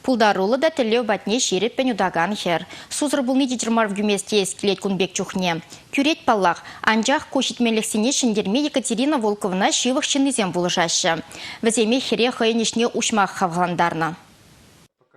Пултаруллӑ та тӗллев патне ҫирӗппӗн утакан хӗр. Сусӑр пулни витӗр мар вӗкӳмест теес килет кун пек чухне. Тӳрет паллах, анчах ку ҫитмеллехсене ҫӗнтерме Екатерина Волковна ҫывӑх ҫыннисем пулӑшаҫҫӗ. Вӗсемех хӗре хӑйӗн ӗҫне уҫмах хавхалантарнӑ.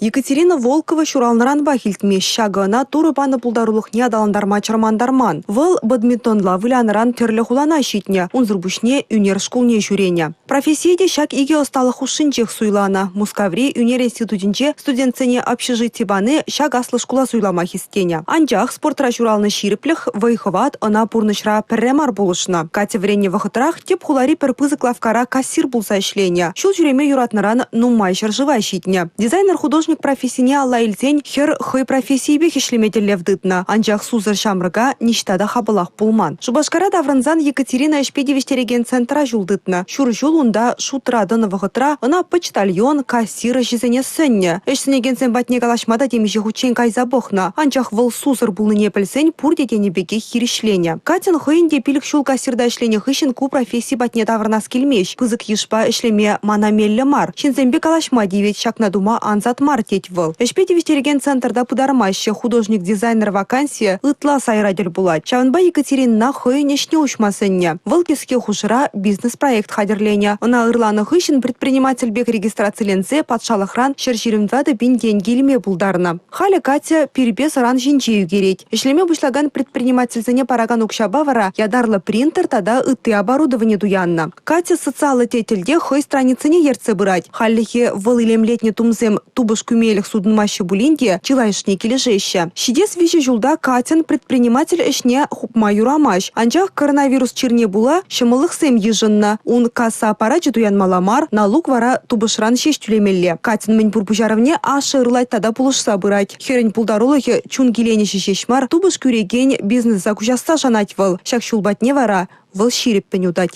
Екатерина Волкова ҫуралнӑранпах илтмест ҫакӑ ӑна Турӑ панӑ пултарулӑхне аталантарма чӑрмантарман. Вӑл бадминтонла вылянӑран тӗрлӗ хулана ҫитнӗ, унсӑр пуҫне ӳнер шкулне ҫӳренӗ. Профессие те ҫак икӗ ӑсталӑх хушшинчех суйланӑ. Мускаври ӳнер институтӗнче студентсене общежити пани ҫак аслӑ шкула суйлама хистенӗ. Анчах спортра ҫуралнӑ ҫирӗплӗх, вӑй-хӑват ӑна пурнӑҫра пӗрре мар пулӑшнӑ. Катя вӗреннӗ вӑхӑтрах тӗп хулари пӗр пысӑк лавккара кассир пулса ӗҫленӗ. Ҫул ҫӳреме юратнӑран нумай ҫӗршыва ҫитнӗ. Дизайнер-художник профессине алла илсен хӗр хӑй профессийӗпех ӗҫлеме тӗллев тытнӑ, анчах сусӑр ҫамрӑка ниҫта та хапӑлах пулман. Шупашкара таврӑнсан Екатерина ӗҫпе тивӗҫтерекен центра ҫул тытнӑ. Ҫур ҫул унта шутра тӑнӑ вӑхӑтра ӑна почтальон, кассир ӗҫӗсене сӗннӗ. Ӗҫ сӗнекенсем патне калаҫма та темиҫе хутчен кайса пӑхнӑ, анчах вӑл сусӑр пулнине пӗлсен пурте тенӗ пекех хирӗҫленӗ. Катьӑн хӑйӗн те пилӗк ҫул кассирта ӗҫленӗ хыҫҫӑн ку професси патне таврӑнас килмест. Пысӑк йышпа ӗҫлеме мана меллӗ мар. Ҫынсемпе калаҫма тивет, ҫакна тума ансат мар, тет вӑл. Ӗҫпе тивӗҫтерекен центрта пытармаҫҫӗ. Художник-дизайнер вакансийӗ ытла сайра тӗл пулать. Ҫавӑнпа Екатеринӑна хӑйӗн ӗҫне уҫма сӗннӗ. Вӑл кӗске хушӑра бизнес-проект хатӗрленӗ. Ӑна ырланӑ хыҫҫӑн предприниматель пек регистрациленсе патшалӑхран ҫӗр ҫирӗм тӑватӑ пин тенкӗ илме пултарнӑ. Халӗ Катя пирпе сӑран ҫинче ӳкерет. Ӗҫлеме пуҫлакан предпринимательсене паракан укҫапа вара ятарлӑ принтер тата ытти оборудовани туяннӑ. Катя социаллӑ тетелте хӑй страницине ертсе пырать. Хальлӗхе вӑл илемлетнӗ тумсем тупӑш кӳмелӗх сутӑнмаҫҫӗ пулин те чылайӑшне килӗшеҫҫӗ. Ҫитес виҫӗ ҫулта Катьӑн предприниматель ӗҫне хупма юрамасть. Анчах коронавирус чирне пула ҫӑмӑллӑхсем йышӑннӑ. Ун касса аппарачӗ туянмалла мар, налук вара тупӑшран ҫеҫ тӳлемелле. Катьӑн мӗнпур пуҫарӑвне ашшӗ ырлать тата пулӑшса пырать. Хӗрӗн пултарулӑхӗ чун киленӗҫӗ ҫеҫ мар, тупӑш кӳрекен бизнеса куҫасса шанать вӑл. Ҫак ҫул патне вара вӑл ҫирӗппӗн утать.